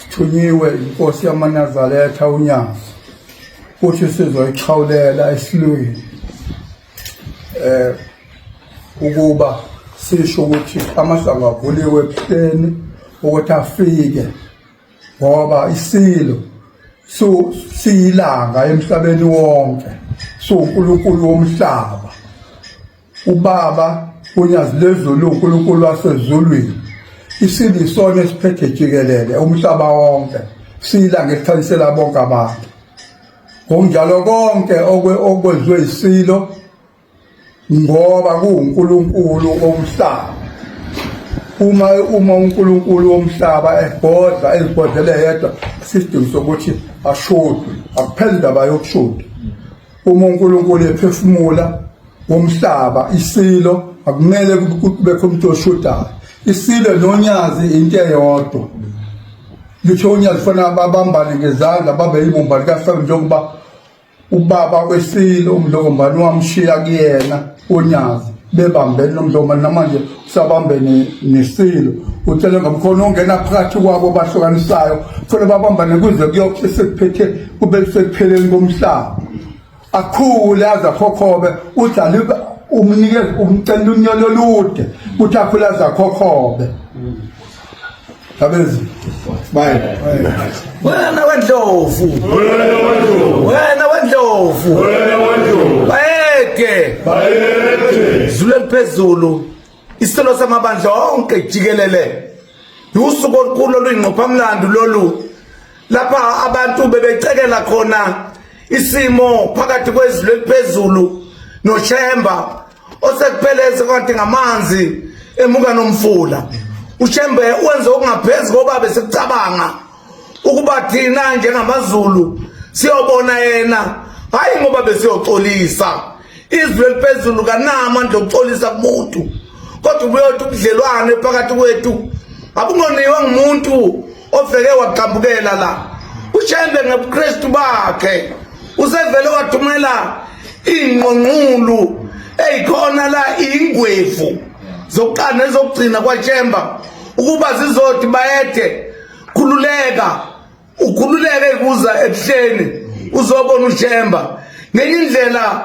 sithunyiwe inkosi yamanazaretha unyazi futhi sizoyixhawulela esilweni eh ukuba sisho ukuthi amasango avuliwe ebuhleni ukuthi afike ngoba isilo so siyilanga emhlabeni wonke so uNkulunkulu womhlaba Ubaba uNyazi lwezulu uNkulunkulu wasezulwini isile isona esiphethe jikelele umhlaba wonke siyilanga elikhanyisela bonke abantu ngokunjalo konke okwenziwe isilo ngoba kuwuNkulunkulu omhlaba uma uma uNkulunkulu womhlaba ebhodla ezibhodlele yedwa isidingo sokuthi ashude akupheli indaba yokushuda uma uNkulunkulu ephefumula womhlaba isilo akumele kubekho umuntu oshudayo isilo nonyazi into eyodwa litho unyazi fana babambane ngezandla babe yibumba likahlaba njengoba ubaba kwesilo umlokombani wamshiya kuyena unyazi bebambene nomdloma namanje usabambene nesilo utshele ngomkhono ongena phakathi kwabo bahlukanisayo funa babambane kuze kuyokuthi sekuphethe kube sekupheleni komhlaba akhule aze akhokhobe udlale umnikeze umcela unyolo olude ukuthi akhule aze akhokhobe Abezi. Bye. Wena wendlovu. Wena wendlovu. Wena wendlovu. Wena wendlovu. Bayeke. Bayeke. Zulu eliphezulu. Isicelo samabandla onke jikelele. Usuku olukhulu oluyingqopha mlando lolu. Lapha abantu bebecekela khona isimo phakathi kwezulu eliphezulu noShemba osekupheleze kade ngamanzi emuka nomfula ushembe wenze okungaphezu koba besikucabanga ukuba thina njengamazulu siyobona yena hhayi ngoba besiyoxolisa izwi eliphezulu kanamandla okuxolisa kumuntu kodwa ubuyothi ubudlelwane phakathi kwethu abungoniwe ngumuntu ovele wagqambukela la ushembe ngebuKristu bakhe usevele wathumela ingqonqulu eyikhona la ingwevu zokuqala nezokugcina kwaTshemba ukuba zizothi bayethe khululeka ukhululeke kuza ebuhleni uzobona uTshemba ngenye indlela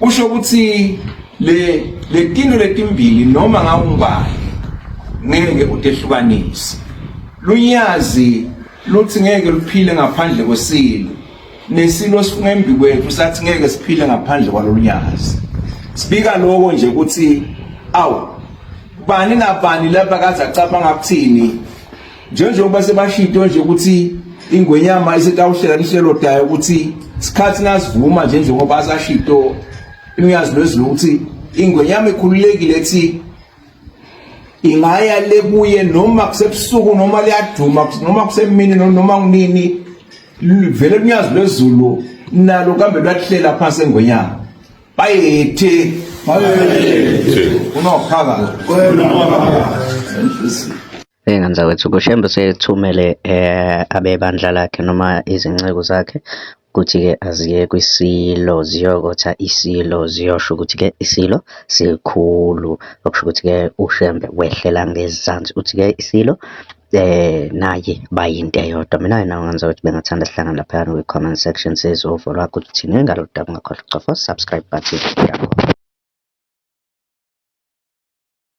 kusho ukuthi le letinto letimbili noma ngawungubani ngeke utehlukanise lunyazi luthi ngeke luphile ngaphandle kwesilo nesilo sifunga embi kwethu sathi ngeke siphile ngaphandle kwalolunyazi sibika lokho nje ukuthi awu bani nabani lapha kaze acabanga ukuthini njengoba sebashito nje ukuthi ingwenyama isetawuhlela lihlelo dayo ukuthi sikhathi nasivuma nje njengoba asashito imyazi lwezulu ukuthi ingwenyama ikhululekile ethi ingaya lebuye noma kusebusuku noma liyaduma noma kusemini noma kunini vele kunyazi lwezulu nalo kambe lwahlela phansi engonyama bayethe bayethe unophaka kwena Bheka mzakwethu, kuShembe usethumele eh, abebandla lakhe noma izinceku zakhe ukuthi-ke aziye kwisilo ziyokotha isilo ziyosho ukuthi-ke isilo sikhulu okusho ukuthi-ke uShembe wehlela ngezansi uthi-ke isilo eh naye bayinto eyodwa mina yena ngenza ukuthi bengathanda sihlangane laphayana kwi-comment section sezovo lwakho ukuthi thini ngalo daba ungakhohlwa ukucofa subscribe button yakho